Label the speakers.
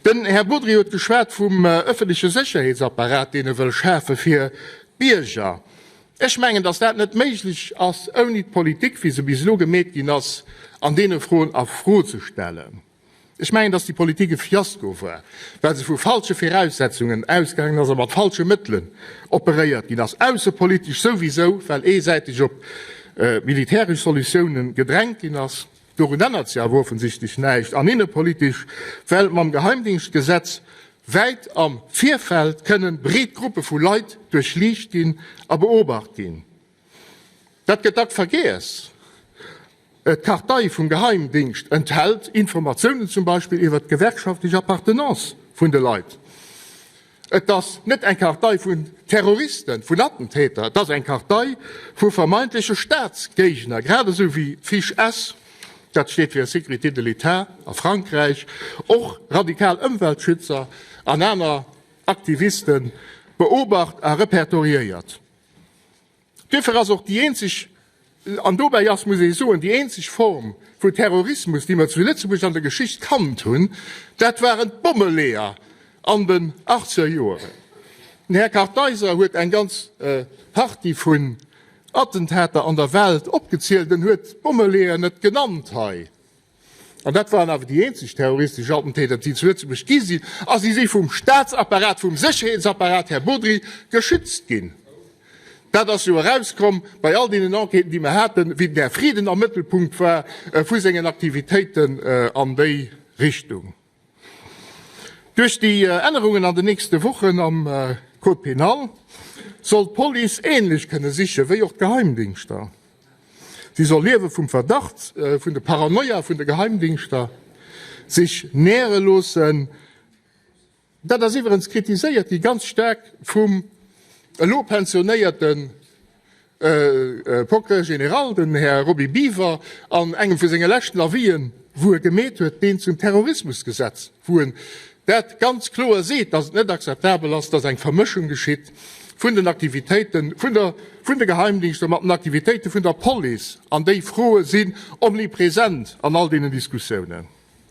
Speaker 1: Den Här Bodry huet geschwat vum öffentliche Sécherheetsapparat, deen e wëll schafe fir d'Bierger. Ech mengen, dass dat net méiglech ass, ouni d'Politik, wéi se bis elo gemeet ginn ass, an deene Froen a Fro ze stellen. Ech mengen, dass déi Politik e Fiasko war, well se vu falsche Viraussetzungen ausgaangen ass a mat falsche Mëttelen operéiert ginn ass, aussepolitesch souwisou, well eesäiteg op militäresch Solutiounen gedrängt ginn ass. Dorun ännert sech awer offensichtlech näischt an innepolitesch, well mam Geheimdingschtgesetz wäit am Virfeld kënnen breet Gruppe vu Leit duerchliicht ginn a beobacht ginn. Dat gëtt dack vergiess. D'Kartei vum Geheimdingscht enthält Informatiounen zum Beispill iwwert d'gewerkschaftlech Appartenance vun de Leit. Et ass net eng Kartei vun Terroristen, vun Attentäter, et ass eng Kartei vu vermeintleche Staatsgéigner, grad esou wéi d'FIGS, dat steet fir Sécurité de l'État a Frankräich, och radikal Ëmweltschützer an aner Aktiviste beobacht a repertoriéiert. Dofir ass och déi eenzeg, an dobäi ass, muss ee soen, déi eenzeg Form vu Terrorismus, déi mer zu Lëtzebuerg an der Geschicht kannt hunn, dat waren d'Bommeleeër an den achtzeger Joeren. Den Här Kartheiser huet eng ganz Partie vun Attentater an der Welt opgezielt. En huet d'Bommeleeër net genannt hei. an dat waren awer déi eenzeg terroristesch Attentater, déi zu Lëtzebuerg gi sinn, a si si vum Staatsapparat, vum Sécherheetsapparat, Här Bodry, geschützt ginn. Dat ass jo erauskomm bei all deenen Enquêten, déi mer haten, wien Här Frieden am Mëttelpunkt war vu sengen Aktivitéiten an déi Richtung. Duerch déi Ännerungen an den nächste Wochen am Code pénal soll d'Police änlech kënne siche wéi och d'Geheimdingschter. Si soll Liewe vum Verdacht, vun de Paranoia vun de Geheimdingschter sech näre loossen. Dat ass iwwerens kritiséiert gi ganz staark vum elo pensionéierten. Procureur général, den Här Roby Biver, an engem vu senge leschten Avisen, wou e gemeet huet, deen zum Terrorismusgesetz, wou en dat ganz kloer seet, dass et net akzeptabel ass, dass eng Vermëschung geschitt vun den Aktivitéite vun de Geheimdienster mat den Aktivitéite vun der Police, an déi Froe sinn omnipresent an all deenen Diskussiounen.